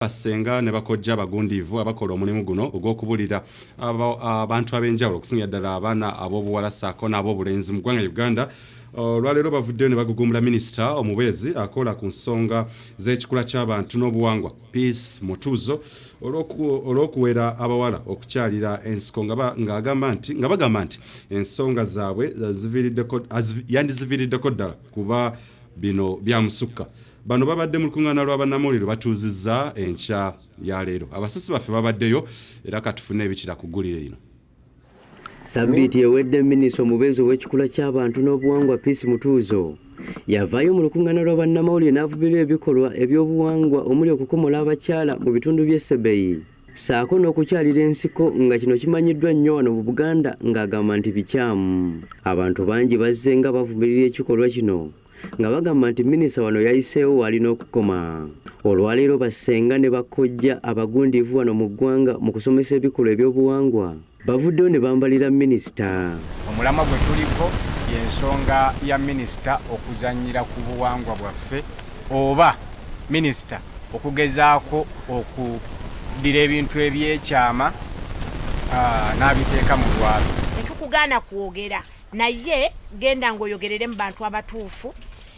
bassenga ne bakojja abagundiivu abakola omulimu guno ogw'okubulira abantu ab'enjawulo okusingira ddala abaana ab'obuwala saako n'ab'obulenzi mu ggwanga uganda olwaleero bavuddeyo ne bagugumbula minisita omubeezi akola ku nsonga z'ekikula ky'abantu n'obuwangwa peace mutuuzo olw'okuwera abawala okukyalira ensiko ng'agamba nti nga bagamba nti ensonga zaabwe yandiziviiriddeko ddala kuba bino byamusukka Bano babadde mu lukuŋŋaana lwa bannamawulire lwe batuuzizza enkya ya leero. Abasasi baffe babaddeyo era katufune ebikira ku ggulire lino. Sabbiiti ewedde minisita omubeezi ow'ekikula ky'abantu n'obuwangwa Peace Mutuuzo yavaayo mu lukuŋŋaana lwa bannamawulire n'avumirira ebikolwa eby'obuwangwa omuli okukomola abakyala mu bitundu by'e Sebeyi ssaako n'okukyalira ensiko nga kino kimanyiddwa nnyo wano mu Buganda ng'agamba nti bikyamu. Abantu bangi bazze nga bavumirira ekikolwa kino nga bagamba nti minisita wano yayiseewo waalina okukoma olwaleero bassenga ne bakkojja abagundiivu wano mu ggwanga mu kusomesa ebikolwa ebyobuwangwa bavuddeyo ne bambalira minisita omulamwa gwe tuliko y'ensonga ya minisita okuzannyira ku buwangwa bwaffe oba minisita okugezaako okuddira ebintu ebyekyama n'abiteeka mu lwalo tetukugaana kwogera naye genda ng'oyogerere mu bantu abatuufu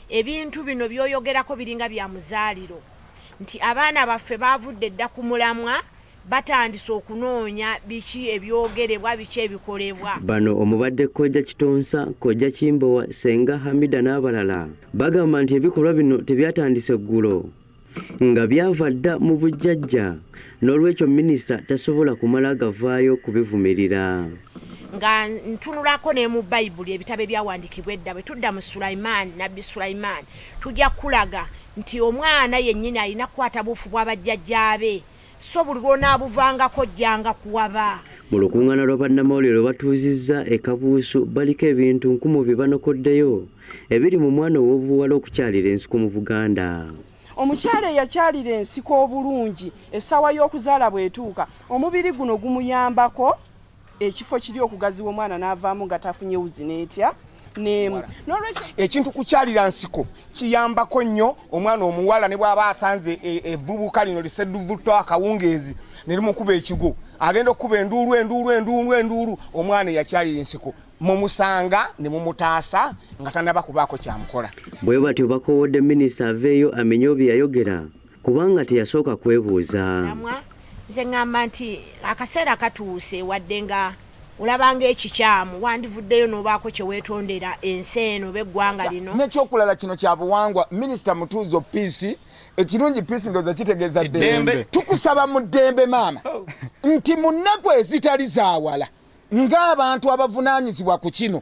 ebintu bino by'oyogerako biringa bya muzaaliro nti abaana baffe baavudde dda ku mulamwa batandise okunoonya biki ebyogerebwa biki ebikolebwa bano omubadde kojja kitonsa kojja kimbowa senga hamida n'abalala bagamba nti ebikolwa bino tebyatandise ggulo nga byava dda mu bujjajja n'olwekyo minisita tasobola kumala gavaayo kubivumirira nga ntunulako ne mu bayibuli ebitabo ebyawandiikibwa edda bwe tudda mu sulaimaani nabbi sulaimaani tujja kukulaga nti omwana yennyini alina kukwata buufu bw'abajjajjaabe so buli lw'onaabuvangako ojjanga kuwaba. Mu lukungaana lwa bannamawulire lwe batuuzizza e Kabuusu baliko ebintu nkumu bye banokoddeyo ebiri mu mwana ow'obuwala okukyalira ensiko mu Buganda. Omukyala eyakyalira ensiko obulungi essaawa y'okuzaala bw'etuuka omubiri guno gumuyambako ekifo kiri okugaziwa omwana n'avaamu nga tafunye wuzi n'etya n'emu n'olwekyo ekintu kukyalira nsiko kiyambako nnyo omwana omuwala ne bw'aba asanze e, evvubuka lino lisedduvutto akawungeezi ne limukuba ekigo agenda okukuba enduulu enduulu enduulu enduulu omwana eyakyalira ensiko mumusanga ne mumutaasa nga tanaba kubaako kyamukola bwe batyo bakowodde minisita aveeyo amenye obyeyayogera kubanga teyasooka kwebuuza nze ŋŋamba nti akaseera katuuse wadde nga olabanga ekikyamu wandivuddeyo n'obaako kye weetondera ensi eno oba eggwanga lino n'ekyokulala kino kya buwangwa minisita mutuuzo piisi ekirungi piisi ndooza kitegeeza ddembe tukusaba mu ddembe maama oh. nti mu nnaku ezitali zaawala ng'abantu abavunaanyizibwa ku kino